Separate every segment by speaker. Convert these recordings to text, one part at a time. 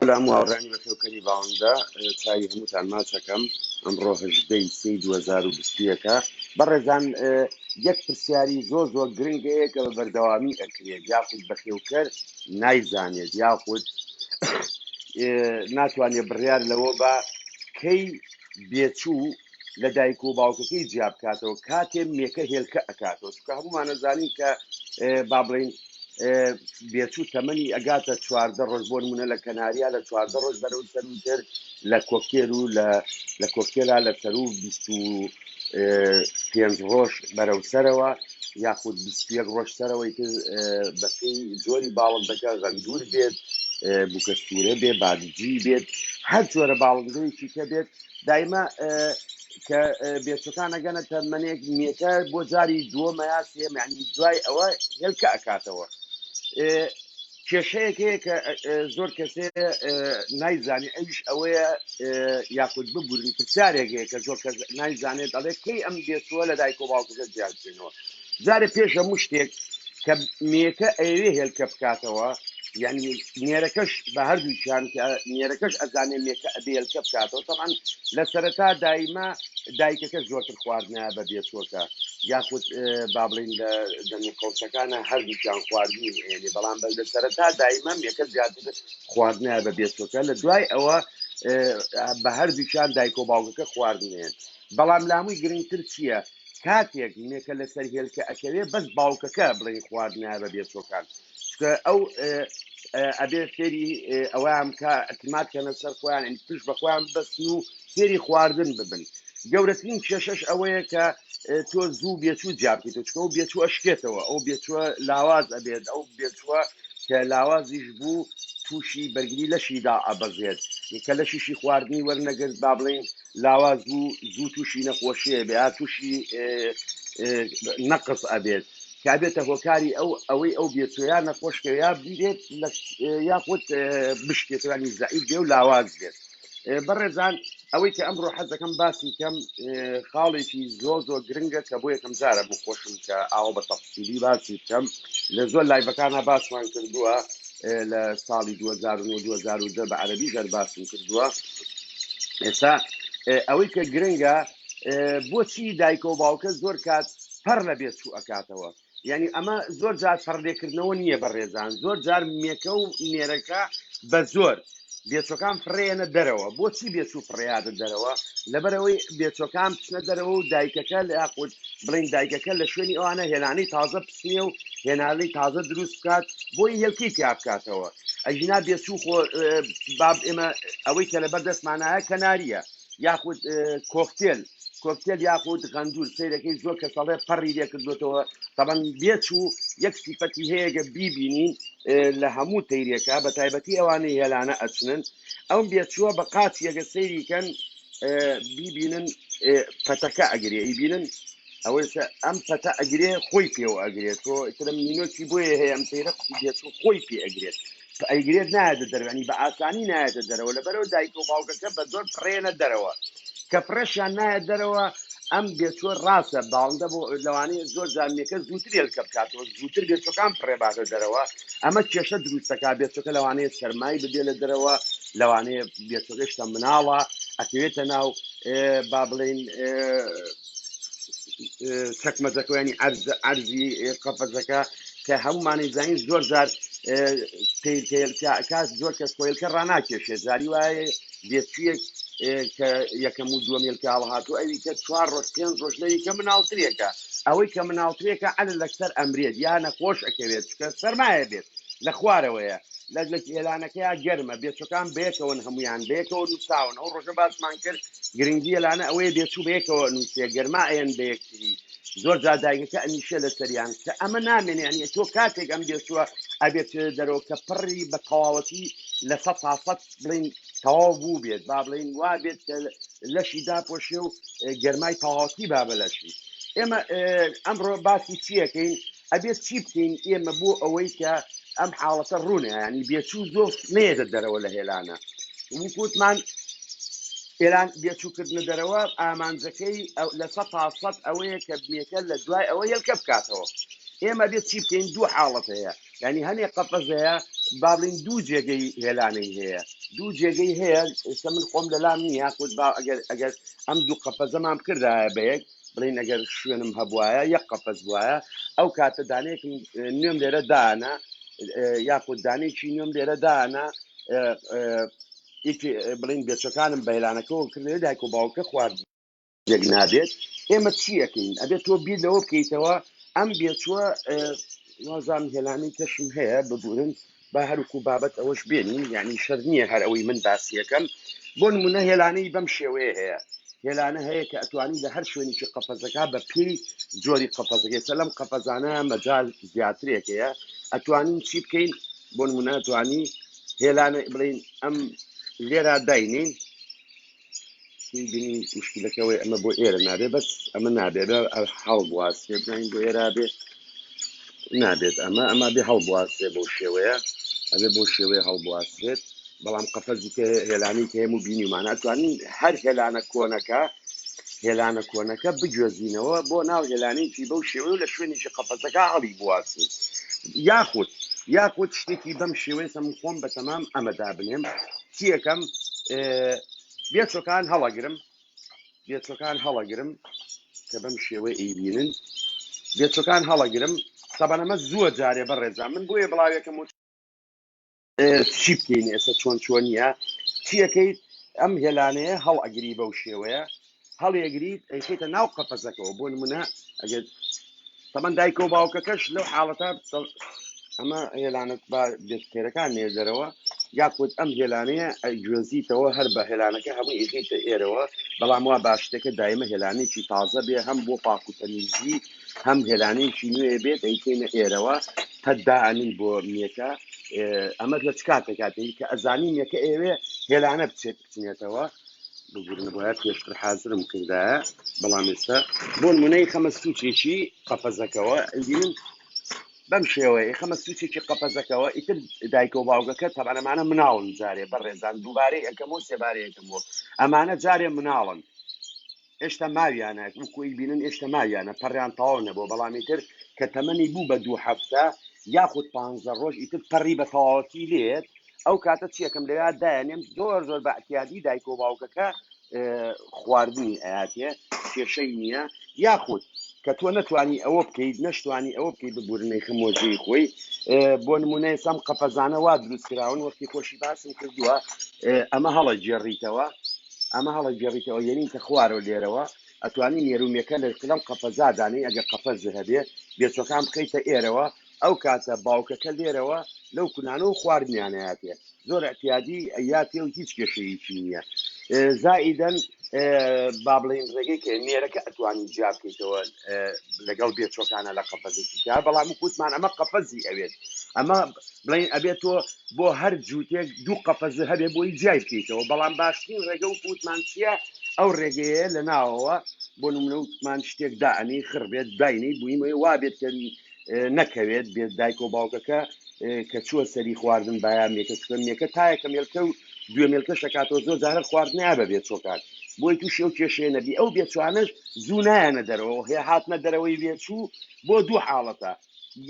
Speaker 1: سلام و هاوڕیانی بەخێوکەری باوەندە چاوی هەمووتان ماچەکەم ئەمڕۆ هەژدەی سی دو هەزار و بیست و یەکە بەڕێزان اه، یەک پرسیاری زۆر زۆر گرنگ هەیە کە بە بەردەوامی ئەکرێت یاخود بەخێوکەر نایزانێت یاخود اه، ناتوانێت بڕیار لەوە با کەی بێچوو لە دایک و باوکەکەی جیا بکاتەوە کاتێ مێکە هێلکە ئەکاتەوە چکە هەمومانە زانین کە با بڵین بێچوو تەمەنی ئەگاتە چواردە ڕۆژ بۆ نمونە لە کەناریا لە چواردە ڕۆژ بەرەو سەروتر لە کۆکتێر و لە کۆکتێلا لە سەرو پێنج ڕۆژ بەرەو سەرەوە یاخود بیستیەک ڕۆژ سەرەوەی تر بەپی زۆری باڵم دەکە غەندور بێت بکەستورە بێ بادجی بێت هەر جۆرە باڵندەیەکی کە بێت دایمە کە بێچەکان ئەگەنە تەمەنێک مێتە بۆ جاری دووەمە یا سێمەنی دوای ئەوە هێلکە ئەکاتەوە کێشەیەک هەیە کە زۆر کەسێ نایزانانی ئەوش ئەوەیە یاخود ببورن پرسیارێک هەیە کە زۆر کەس نایزانێت دەڵێت کەی ئەم بێتووە لە دایک و باوکەکە جیاکەوە جارێ پێش هەموو شتێک کە مێکە ئەیەوێ هێلکە بکاتەوە یعنی نێرەکەش بە هەردووکیان کە نێرەکەش ئەزانێ مێکە ئەبێ هێلکە بکاتەوە تەمان لە سەرەتا دایمە دایکەکە زۆرتر خواردنایە بە بێچۆکە یاخود با بڵین لە دەمی قەوسەکانە هەردووکیان خواردنی ئێنێ بەڵام بە لە سەرەتا دایمە مێکە زیاتر خواردنایە بە بێچۆکە لە دوای ئەوە بە هەردووکیان دایک و باوکەکە خواردنێن بەڵام لاموی گرنگتر چیە کاتێک مێکە لەسەر هێلکە ئەکەوێ بەس باوکەکە بڵێی خوارد نایە بە بێچۆکان چکە ئەو اه، اه، ئەبێ فێری اه، ئەویان بکە ئەتمات کەنە سەر خۆیان یعنی پشت بە خۆیان ببەستن و فێری خواردن ببن گەورەترین کێشەش ئەوەیە کە اه، تۆ زوو بێچوو جیا بکەیتەوە چکە ئەو بێچوو ئەشکێتەوە ئەو بێچووە لاواز ئەبێت ئەو بێچووە کە لاوازیش بوو تووشی بەرگری لەشیدا ئەبەزێت کە لەشیشی خواردنی وەرنەگرت با بڵێین لاواز بوو زوو توشی نەخۆشیێ بێ یا توشی نەقس ئەبێت کە بێتە هۆکاری ئەو ئەوەی ئەو بێت یا نەخۆشکە یا بێت یاخود بشکێتوانی زعیب بێ و لاواز بێت بەڕێزان ئەوەی کە ئەمڕۆ حەزەکەم باسی کەم خاڵێکی زۆر زۆر گرنگە کە بۆ یەکەم جارە بۆ خۆشم کە ئاوا بە تەفسیلی باسی بکەم لە زۆر لایڤەکانە باسمان کردووە لە ساڵی دوو هەزار و نۆ دوو هەزار و دە بە عەرەبی زەر باسم کردووە ئێستا ئێ، ئەوەی کە گرنگە ئێ، بۆچی دایکە و باوکە زۆر کات پەڕ لە بێت چوو ئەکاتەوە یعنی ئەمە زۆر جار پەڕلێکردنەوە نییە بە ڕێزان زۆر جار مێکە و نێرەکە بە زۆر بێچوەکان فڕێیەنە دەرەوە بۆچی بێچوو فڕێیادە دەرەوە لەبەرەوەی بێچوەکان بچنە دەرەوە و دایکەکە لە یاخود بڵین دایکەکە لە شوێنی ئەوانە هێلانەی تازە بچنیە و هێنانەی تازە دروست بکات بۆی هێلکی تیا بکاتەوە ئەژینا بێچوو خۆ باب ئێمە ئەوەی کە لەبەر دەستمانایە کەناریە یاخود کۆکتێل کۆکتێل یاخود غەندور سیرەکەی زۆر کەس ئەڵێ پەڕی لێ کردوێتەوە تەبەن بێچوو یەک سیفەتی هەیەگە بیبینین لە هەموو تەیرێکە بە تایبەتی ئەوانەی هێلانە ئەچنن ئەم بێچووە بە قاچیەگە سەیریکەن بیبینن پەتەکە ئەگرێ ئیبینن ئەوەی کە ئەم پەتە ئەگرێ خۆی پێوە ئەگرێت تۆ ئیترم نینۆکی بۆیە هەیە ئەم تەیرە قوتوبیەت و خۆی پێ ئەگرێت ئەیگرێت نایەتە دەرەوە یانی بە ئاسانی نایەتە دەرەوە لەبەرەوە دایکە و باوکەکە بە زۆر پرێنە دەرەوە کە پرێشیان نایە دەرەوە ئەم بێچوە ڕاستە باڵندە بۆ لەوانەیە زۆر جامیەکە زووتر ێلکە بکاتەوە زووتر بێچەکان پڕێباتە دەرەوە ئەمە کێشە دروستەکە بێچەکە لەوانەیە سەرمای ببێ لە دەرەوە لەوانەیە بێچەکەشکە مناڵە ئەکەوێتە ناو با بڵین چەکمەجەکەیانی ئەرز ئەرزی قەفەزەکە کە هەمومانی زین زۆر جار کاس زۆر کەس کۆیلکە ڕناکێشێ زاری وایە بێچویەک کە یەکەم و دووەمێلکە هەڵهاتو ئەوی کە چوار ڕۆژ پێنج ڕۆژ لەوی کە مناڵترێکە ئەوەی کە مناڵترێکە ئەل لەسەر ئەمرێت یا نەخۆش ئەکەوێت چکە سەرمایە بێت لە خوارەوەیە لە لە هێلانەکەی گەرمە بێچەکان بەیەکەوەن هەمویان بەیەکەوە نووساون ئەو ڕۆژە باسمان کرد گرنگی یەلانە ئەوەیە بێچوو بەیەکەوە ئەنوسێ گەرما ئەیەن بەیەکتری زۆر جار دایکەکە ئەنیشێ لەسەریان کە ئەمە نامێنێ یانی تۆ کاتێک ئەم بێچووە ئەبێت دەرەوە کە پڕی بە تەواوەتی لە سەد تا سەد بڵین تەواو بوو بێت با بڵین وا بێت کە لەشی داپۆشێ و گەرمای تەواوەتی با بەلەشی ئێمە ئەمڕۆ باسی چیەکەین ئەبێت چی بکەین ئێمە بۆ ئەوەی کە ئەم حاڵەتە ڕوونە ینی بێچوو زۆر نێدە دەرەوە لە هێلانە وکوتمان ئێران بێچووکردنە دەرەوە ئامانجەکەی لە سە تا سەد ئەوەیە کە بنیەکە لە دوای ئەوە یلکە بکاتەوە ئێمە بێت چی بکەین دوو حاڵەت هەیە ینی هەنێ قەفەزەیە بابلین دوو جێگەی هێلانەی هەیە دوو جێگەی هەیە ئێستا من خۆم لەلام نییە خود با ئەگەر ئەگەر ئەم دوو قەفەزەمان بکردایە بە یەک بڵێن ئەگەر شوێنم هەبوایە یەک قەفەز بواە ئەو کاتە دانەیەکم نوێم لێرە دانا یاخود دانێکی نوێم لێرە دانا بڵین بێچەکانم بەیرانەکەەوە کردێت دایک و باوکە خوارد یەک نابێت ئێمە چیەکەین ئەبێت تۆ بیر لەوە بکەیتەوە ئەم بێچووە وازان هێلانەی کەشم هەیە ببورن با هەرکو بابەت ئەوەش بێنین یانی شەرت نییە هەر ئەوەی من باسیەکەم بۆ نمونە هێلانەی بەم شێوەیە هەیە هێلانە هەیە کە ئەتوانی لە هەر شوێنێکی قەفەزەکە بە پێی جۆری قەفەزەکەی سەلەم قەفەزانە مەجال زیاترێک هەیە ئەتوانین چی بکەین بۆ نمونە ئەتوانی هێلانە بڵین ئەم لێرا داینین سی بینی مشکلەکەوەی ئەمە بۆ ئێرە نابێ بەس ئەمە نابێت هەڵبواسێ بزانین بۆ ئێرا بێ نابێت ئەمە ئەمە بێ هەڵبواسێ بۆ شێوەیە ئەبێ بۆ شێوەیە هەڵبواسێت بەڵام قەفەزی کە هێلانی کە هەموو بینیمان ئەتوانین هەر هێلانە کۆنەکە هێلانە کۆنەکە بگوێزینەوە بۆ ناو هێلانێکی بەو شێوە و لە شوێنێکی قەفەتەکە هەڵی بواسین یاخود یاخود شتێکی بەم شێوەیە سەم خۆم بە تەمام ئەمەدا بنێم چیەکەم بێ چۆکان هەڵەگرم بێ چۆکان هەڵەگرم کە بەم شێوەی ئەیبینن بێ چۆکان هەڵەگرم سەبەن ئەمە زووە جارێ بە ڕێزا من بۆیە بڵاوێکم و چی بکەین ئێستا چۆن چۆن نیە چیەکەیت ئەم هێلانەیە هەڵ ئەگری بەو شێوەیە هەڵیەگریت ئەیخەیتە ناو قەفەزەکەوە بۆ نمونە ئەگەر تەمەن دایکە و باوکەکەش لەو حاڵەتە دەڵ- ئەمە هێلانەت با بێت خێرەکان نێر دەرەوە یاخود ئەم هێلانەیە ئەگوێزیتەوە هەر بە هێلانەکە هەموو ئیخیتە ئێرەوە بەڵام وا باشتەکە دایمە هێلانێکی تازە بێ هەم بۆ پاک و تەمیزی هەم هێلانێکی نوێ بێت ئەیکەینە ئێرەوە قەت دائەنی بۆ میەکە ئێ، ئەمەت لە چ کاتێک هاتەی کە ئەزانی میەکە ئێوێ هێلانە بچێت بچنێتەوە ببورن بۆیە پێشتر حازرم کردایە بەڵام ئێستا بۆ نمونەی خەمە سوچێکی قەفەزەکەەوە ئەگرین بەم شێوەیە خەمە سوچێکی قەفەزەکەەوە ئیتر دایکە و باوگەکە تەبانەمانە مناڵن جارێ بە ڕێزان دووبارەی ئەەکەمەوە سێبارەیەکەمەوە ئەمانە جارێ مناڵن ئێشتا ماویانە وەکو ئەیبینن ئێشتا ماویانە پەڕیان تەواو نەبووە بەڵام ئیتر کە تەمەنی بوو بە دوو هەفتە یاخود پانزە ڕۆژ ئیتر پەڕی بە تەواوەتی لێت ئەو کاتە چیەکەم لەوێ دایانێم زۆر زۆر بە احتیادی دایک و باوکەکە اه، خواردنی ئااتێ کێشەی نییە یاخود کە تۆ نەتوانی ئەوە بکەیت نەشتوانی ئەوە بکەیت ببورنەی خمۆجێی خۆی اه، بۆ نمونە ئێسام قەفەزانە وا دروست کراون وەختی خۆشی باسم کردووە اه، ئەمە هەڵە گێڕیتەوە ئەمە هەڵەگێڕیتەوە یەنی کە خوارەوە لێرەوە ئەتوانی نێرومێکە لە لەم قەفەزا دانێی ئەگەر قەفەزێ هەبێ بێچوەکان بخەیتە ئێرەوە ئەو کاتە باوکەکە لێرەوە لەو کونانە و خواردنیان ئەیاتێ زۆر اعتیادی ئەیاتێ و هیچ کێشەیەکی نییە اه، زائیدەن اه، با بڵێین ڕێگەی کە نێرەکە ئەتوانی جیا بکەیتەوە اه، لەگەڵ بێچوەکانە لە قەفەزێکی تیا بەڵام وکوتمان ئەمە قەفەزی ئەوێت ئەمە بڵێین ئەبێ تۆ بۆ هەر جووتێک دوو قەفەزە هەبێ بۆی جیای بکەیتەوە بەڵام باشترین ڕێگە وەکو وتمان چییە ئەو ڕێگەیە لە ناوەوە بۆ نمونە وتمان شتێک دائەنی خڕ بێت داینەی بوویمەوە وابێت کە نەکەوێت بێت دایک و باوکەکە اه، کە چووە سەری خواردن بایا مێکە چکە مێکە تایەکە مێلکە و دوێ مێلکەش دەکاتەوە زۆر جارە خواردنیا بەبێت چۆکات بۆی تووشی ئەو کێشەیە نەبی ئەو بێچوانەش زوو نایەنە دەرەوە هێ هاتنە دەرەوەی بێچوو بۆ دوو حاڵەتە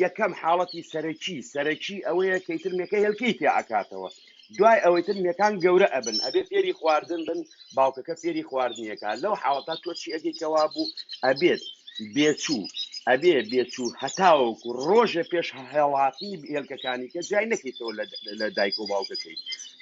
Speaker 1: یەکەم حاڵەتی سەرەکی سەرەکی ئەوەیە کە ئیتر مێکە هێلکەی تێ ئەکاتەوە دوای ئەوەی تر مێکان گەورە ئەبن ئەبێ فێری خواردن بن باوکەکە فێری خواردنیەکە لەو حاڵەتا تۆ چی ئەگەی کەوا بوو ئەبێت بێچوو ئەبێ بێچوو هەتاوەکو ڕۆژێ پێش هەڵاتنی هێلکەکانی کە جای نەکەیتەوە لە لە دایک و باوکەکەی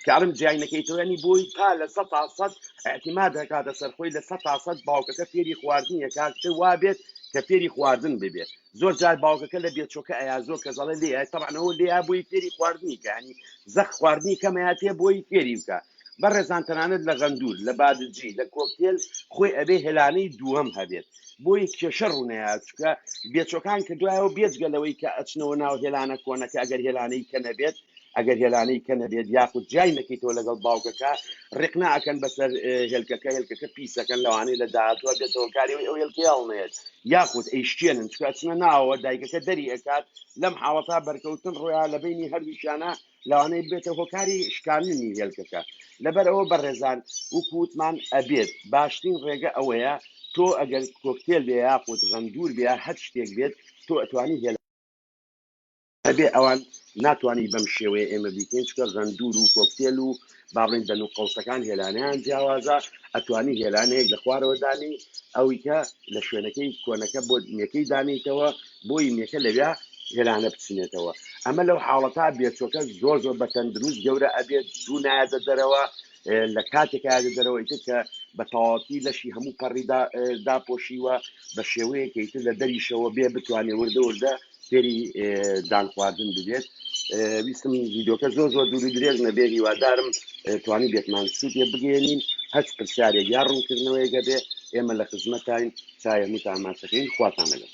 Speaker 1: کارم جای نەکەیتەوە ینی بۆی تا لە سە تا سەد اعتماد دەکاتە سەرخۆی لە سە تا سەد باوکەکە فێری خواردنیە کاکتر وابێت کە فێری خواردن ببێت زۆر جار باوکەکە لە بێچۆکە ئەیا زۆر کەس ئەڵێ لێ ئای تەبعەن ئەوە لێ ئا بۆی فێری خواردنی کە ینی زەخت خواردنی کەم ئەیا تێ بۆی فێری بکە بەڕێزان تەنانەت لە غەندور لە بادجی لە کۆکتێل خۆی ئەبێ هێلانەی دووەم هەبێت بۆی کێشە ڕوونەیە چونکە بێچۆکان کردوایەوە بێجگە لەوەی کە ئەچنەوە ناو هێلانە کۆنەکە ئەگەر هێلانەی کە نەبێت ئەگەر هێلانەی کە نەبێت یاخود جیای نەکەیتەوە لەگەڵ باوکەکە ڕێقنە ئەکەن بەسەر هێلکەکە هێلکەکە پیسەکەن لەوانەیە لە داهاتوە بێتە هۆکاری ئەوەی ئەو هێلکەیە هەڵنەیەت یاخود ئەیشکێنن چونکە ئەچنە ناوەوە دایکەکە دەری ئەکات لەم حاڵەتا بەرکەوتن ڕویان لە بینی هەردووکیانە لەوانەیە بێتە هۆکاری شکاندنی هێلکەکە لەبەر ئەوە بەڕێزان وەکو وتمان ئەبێت باشترین ڕێگە ئەوەیە تۆ ئەگەر کۆکتێل بێ یاخود غەندور بێ هەر شتێک بێت تۆ ئەتوانی هێلکە ئەبێ ئەوان ناتوانین بەم شێوەیە ئێمە بیکەین چونکە غەندور و کۆکتێل و با بڵێین دەن و قەوسەکان هێلانەیان جیاوازە ئەتوانی هێلانەیەک لە خوارەوە دانی ئەوی کە لە شوێنەکەی کۆنەکە بۆ نەکەی دانیتەوە بۆی نەکە لەویا هێلانە بچنێتەوە ئەمە لەو حاڵەتا بێچۆکە زۆر زۆر بە تەندروست گەورە ئەبێت زوو نایەتە دەرەوە اه، لە کاتێکایە دەرەوە ئیتر کە بە تەواوەتی لەشی هەموو پەڕی دا- اه، داپۆشیوە بە شێوەیەکە ئیتر لە دەریشەوە بێ بتوانێ وردە وردە فێری دان خواردن ببێت ویستم ویدۆکە زۆر زۆر دوور درێژ نەبێ هیوادارم توانی بێتمان سوودێ بگەێنین هەچ پرسیارێک یا ڕوونکردنەوەیگە بێ ئێمە لە خزمەتین چایە متاماتەکەین خواتان لەگەڵ